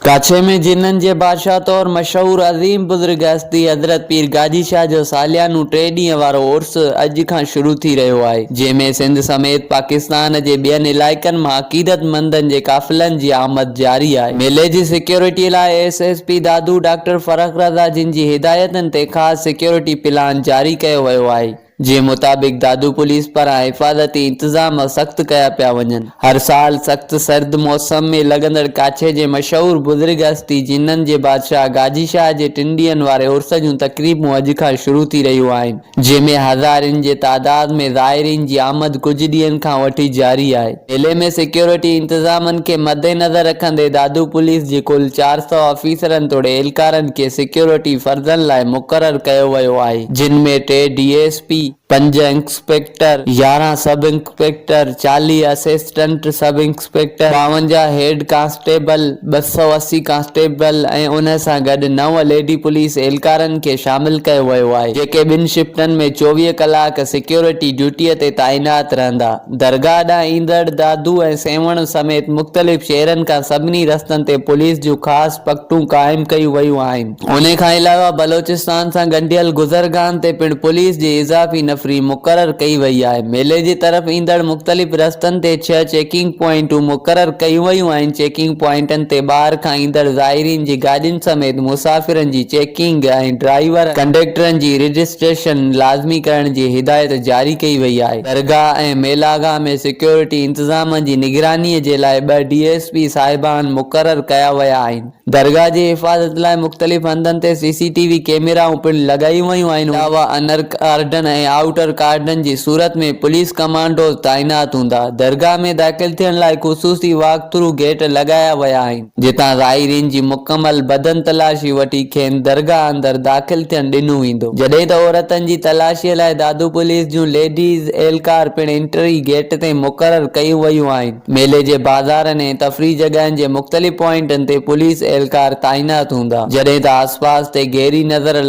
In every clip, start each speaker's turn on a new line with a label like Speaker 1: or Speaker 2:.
Speaker 1: ڪاڇي ۾ جنن جي بادشاهه طور مشهور عظيم بزرگ هستي حضرت پير گاجي شاهه جو ساليانو ٽي ڏينهن وارو عرس اڄ کان شروع ٿي رهيو آهي جنهن ۾ سنڌ سميت پاڪستان جي ٻين علائقن مان عقيدتمندن جي قافلن جي آمد جاري آهي ميلي جي سيڪيورٽي لاء S S P Dadu doctor Farrukh Raza جن جي هدايتن تي خاص سيڪيورٽي پلان جاري ڪيو ويو آهي. جي مطابق دادو پوليس پاران حفاظتي انتظام سخت ڪيا پيا وڃن. هر سال سخت سرد موسم ۾ لڳندڙ ڪاڇي جي مشهور بزرگ هستي جنن جي بادشاهه گاجي شاهه جي ٽن ڏينهن واري عرس جون تقريبون اڄ کان شروع ٿي رهيون آهن جنهن ۾ هزارين جي تعداد ۾ زائرين جي آمد ڪجهه ڏينهن کان وٺي جاري آهي. ضلعي ۾ سيڪيورٽي انتظامن کي مدنظر رکندي دادو پوليس جي ڪل چار سؤ آفيسرن توڙي اهلڪارن کي سيڪيورٽي فرضن لاء مقرر ڪيو ويو آهي جن ۾ ٽي ڊي ايس پي، پنج انسپيڪٽر، يارهن سب انسپيڪٽر، چاليهه اسسٽنٽ سب انسپيڪٽر، ٻاونجاهه هيڊ ڪانسٽيبل، ٻه سؤ اسي ڪانسٽيبل ۽ ان سان گڏ نو ليڊي پوليس اهلڪارن کي شامل ڪيو ويو آهي جيڪي ٻن شفٽن ۾ چوويهه ڪلاڪ سيڪيورٽي ڊيوٽي تي تعينات رهندا. درگاهه ڏانهن ايندڙ دادو ۽ سيوهڻ سميت مختلف شهرن کان سڀني رستن تي پوليس جون خاص پڪٽون قائم ڪيون ويون آهن. انهي کان علاوه بلوچستان سان ڳنڍيل گذرگاهن تي پڻ پوليس جي اضافي نفري مقرر ڪئي وئي آهي. ميلي جي طرف ايندڙ مختلف رستن تي ڇهه چيڪنگ پوائنٽون مقرر ڪيون ويون آهن. چيڪنگ پوائنٽن تي ٻاهر کان ايندڙ زائرين جي گاڏين سميت مسافرن جي چيڪنگ ۽ ڊرائيور، ڪنڊيڪٽرن جي رجسٽريشن لازمي ڪرڻ جي هدايت جاري ڪئي وئي آهي. درگاهه ۽ ميلاگاهه ۾ سيڪيورٽي انتظام جي نگراني جي لاء ٻه ڊي ايس پي صاحبان مقرر ڪيا ويا آهن. درگاهه جي حفاظت لاء مختلف هنڌن تي سي سي ٽي وي ڪيميرائون پڻ لڳايون ويون آهن. ان کان علاوه انر ڪارڊن ۽ آئوٽر ڪارڊن جي صورت ۾ پوليس ڪمانڊوز تعينات هوندا. درگاهه ۾ داخل ٿيڻ لاء خصوصي واڪ ٿرو گيٽ لڳايا ويا آهن. جتان زائرين جي مڪمل بدن تلاشي وٺي کين درگاهه اندر داخل ٿيڻ ڏنو ويندو. جڏهن ته عورتن جي تلاشيء لاء دادو پوليس جون ليڊيز اهلڪار پڻ انٽري گيٽ تي مقرر ڪيون ويون آهن. ميلي جي بازارن ۽ تفريح جڳهن جي مختلف پوائنٽن تي پوليس اهلڪار تعينات هوندا. جڏهن ته آسپاس تي گهري نظر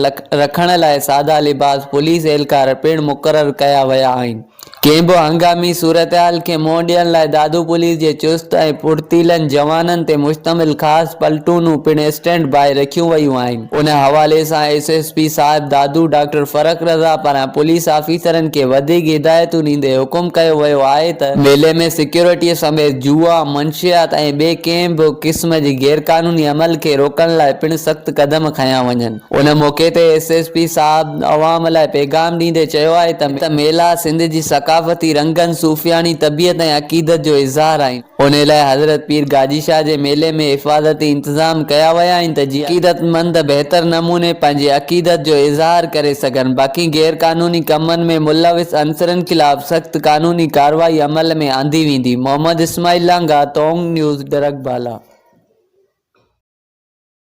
Speaker 1: رکڻ لاء سادا لباس پوليس اهلڪار پڻ مقرر ڪيا ويا آهن. ڪنهن به هنگامي صورتحال کي منهن ڏيڻ لاء دادو پوليس جي چست ۽ ڦڙتيلن جوانن تي مشتمل خاص پلٽونون پڻ اسٽينڊ باء رکيون ويون آهن. ان حوالي سان ايس ايس پي صاحب دادو ڊاڪٽر فرخ رضا پاران پوليس آفيسرن کي وڌيڪ هدايتون ڏيندي حڪم ڪيو ويو آهي ته، ميلي ۾ سيڪيورٽيء سميت جوا، منشيات ۽ ٻئي ڪنهن به قسم جي غيرقانوني عمل کي روڪڻ لاء پڻ سخت قدم کنيا وڃن. ان موقعي تي ايس ايس پي صاحب عوام لاء پيغام ڏيندي چيو آهي ته ميلا سنڌ جي ثقافتي رنگن، صوفياڻي طبيعت ۽ عقيدت جو اظهار آهن، ان لاء حضرت پير گاجي شاهه جي ميلي ۾ حفاظتي انتظام ڪيا ويا آهن ته جيئن عقيدتمند بهتر نموني پنهنجي عقيدت جو اظهار ڪري سگهن، باقي غير قانوني ڪمن ۾ ملوث عنصرن خلاف سخت قانوني ڪارروائي عمل ۾ آندي ويندي. محمد اسماعيل لانگاهه، ٽونگ نيوز، ڏرڪ بالا.